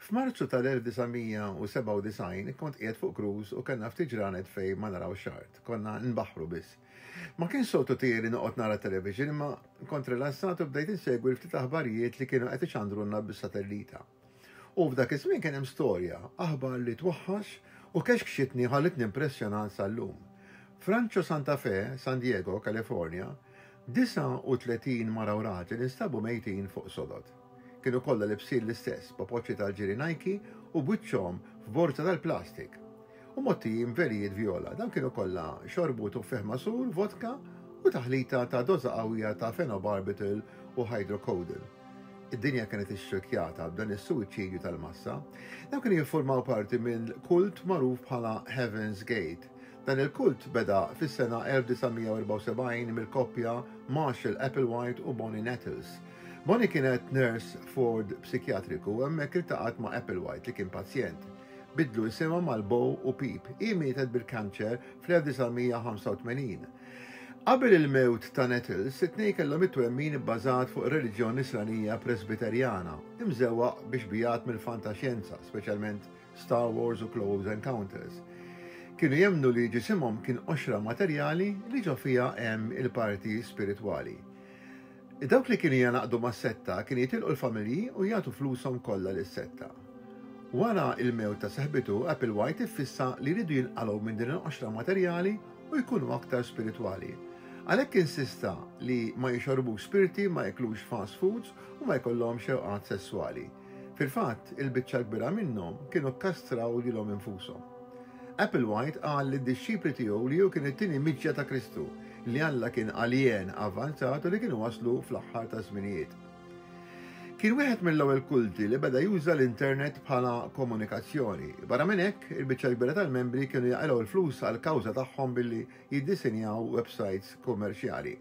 F'Marzu tal-1997 kont qiegħed fuq cruise u kellna ftit ġranet fejn ma narawx art, konna nbaħħru biss. Ma kienx soltu tiegħi li noqgħod nara t-television imma kont rilassat u bdejt insegwi l-ftit aħbarijiet li kienu qed ixandrulna bis-satellita. U f'dak iż-żmien kien hemm storja, aħbar li twaħħax u kexkxitni u ħallitni impressjonat sal-lum. F'Rancho Santa Fe, San Diego, California, 39 mara u raġel instabu mejtin fuq sodod. Kienu kollha libsin l-istess, popoċċi tal-ġiri Nike u b'wiċċhom f'borża tal-plastik. U mgħottijin b'velijiet vjola. Dawn kienu kollha xorbu tuffieħ magħsur, vodka u taħlita ta' doża qawwija ta' phenobarbital u hydrocodone. Id-dinja kienet ixxirkjata b'dan is-suwiċidju tal-massa. Dawn kienu jiffurmaw parti minn kult magħruf bħala Heaven's Gate, Dan il-kult beda fis-sena 1974 mill-koppja Marshall Applewhite u Bonnie Nettles. Bonnie kienet nurse f'ward psikjatriku u hemmhekk iltaqgħet ma' Applewhite li kien pazjent. Biddlu isimha mal Bo u Peep. Hi mietet bil-kanċer fl-1985. Qabel il-mewt ta' Nettles, it-tnejn kellhom it-twemmin ibbażat fuq ir-reliġjon Nisranija Presbiterjana, imżewwaq biex biegħed mill-fantaxjenza, speċjalment Star Wars u Close Encounters. Kienu jemnu li ġisimhom kien qoxra materjali li ġo fiha hemm il-parti spiritwali. Dawk li kienu janaqdu mas-setta kien jitilqu l-familji u jagħtu flushom kollha lis-setta. Wara il-mewt ta' seħbitu, Applewhite iffissa li jridu jinqalgħu minn din il-qoxra materjali u jkunu aktar spiritwali. Għalhekk insista li ma jixorbux spirti, ma jaklux fast foods u ma jkollhomx xewqat sesswali. Fil-fatt, il-biċċa l-kbira minnhom kienu kkastraw lilhom infushom. Applewhite qal lid-dixxipli tiegħu li hu kien it-tieni miġja ta' Kristu, li Alla kien alien avvanzat u li kienu waslu fl-aħħar taż-żminijiet. Kien wieħed mill-ewwel kulti li beda juża l-internet bħala komunikazzjoni. Barra minn hekk, il-biċċa l-kbira tal-membri kienu jaqilgħu l-flus għall-kawża tagħhom billi jiddisinjaw websajts kummerċjali.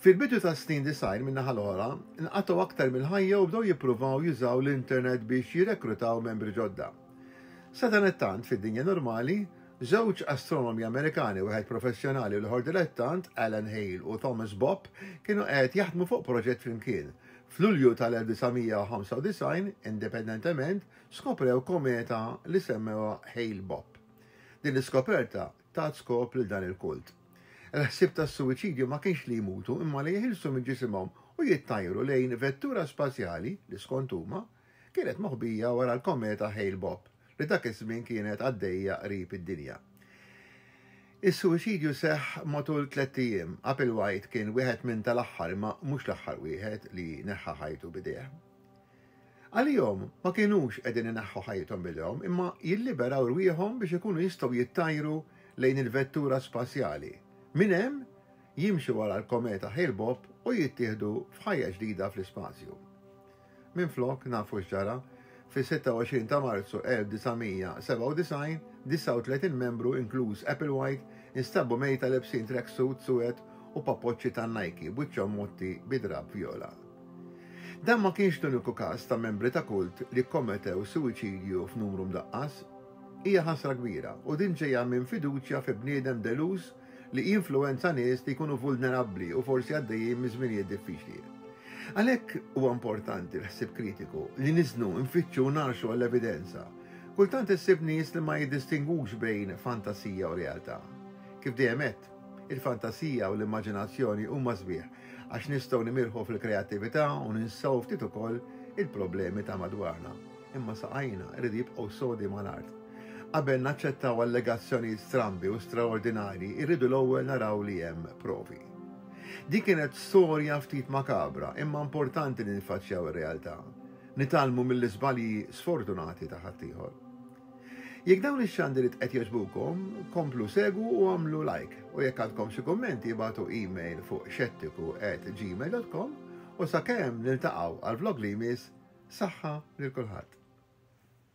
Fil-bidu tas-snin disgħin, min-naħa l-oħra, nqatgħu aktar mill-ħajja u bdew jippruvaw jużaw l-internet biex jirrekrutaw membri ġodda. Sadanittant, fid-dinja normali, żewġ astronomi Amerikani, wieħed professjonali u l-ieħor dilettant, Alan Hale u Thomas Bopp, kienu qed jaħdmu fuq proġett flimkien. F'Lulju tal-1995, indipendentement, skoprew kometa li semmewha Hale-Bopp. Din l-iskoperta tat skop lil dan il-kult. Il-ħsieb tas-suwiċidju ma kienx li jmutu imma li jeħilsu minn ġisimhom u jittajru lejn vettura spazjali li, skont huma, kienet moħbija wara l-kometa Hale-Bopp li dak iż-żmien kienet għaddejja qrib id-dinja. Is-suwiċidju seħħ matul tlett ijiem. Applewhite kien wieħed minn tal-aħħar, imma mhux l-aħħar wieħed, li neħħa ħajtu b'idejh. Għalihom, ma kinux qegħdin ineħħu ħajjithom b'idejhom imma jilliberaw rwieħhom biex ikunu jistgħu jittajru lejn il-vettura spazjali, minn hemm jimxu wara l-kometa Hale-Bopp u jittieħdu f'ħajja ġdida fl-ispazju. Minflok nafu x'ġara, fis-26 ta' Marzu 1997, 39 membru, inkluż Applewhite, instabbu mejta lebsin tracksuit suwed u papoċċi tan-Nike b'wiċċhom mgħotti bi drapp vjola. Dan ma kienx l-uniku każ ta' membri ta' kult li kkometew suwiċidju f'numru mdaqqas. Hija ħasra kbira u din ġejja minn fiduċja fi bniedem deluż li jinfluwenza nies li jkunu vulnerabbli u forsi għaddejjin minn żminijiet diffiċli. Għalhekk huwa importanti l-ħsieb kritiku, li niżnu, nfittxu u ngħarxu għall-evidenza. Kultant issib nies li ma jiddistingwux bejn fantasija u realtà. Kif dejjem għedt, il-fantasija u l-immaġinazzjoni huma sbieħ għax nistgħu nimirħu fil-kreattività u ninsew ftit ukoll il-problemi ta' madwarna. Imma saqajna jridu jibqgħu sodi mal-art. Qabel naċċettaw allegazzjonijiet strambi u straordinarji, irridu l-ewwel naraw li hemm provi. Din kienet storja ftit makabra, imma importanti li niffaċċjaw ir-realtà, nitgħallmu mill-iżbalji sfortunati ta' ħaddieħor. Jekk dawn ix-xandiriet qed jogħġbukom, komplu segwu u agħmlu like, u jekk għandkom xi kummenti ibgħatu email fuq xettiku at gmail dot com u sakemm niltaqgħu għall-vlog li jmiss, saħħa lil kulħadd.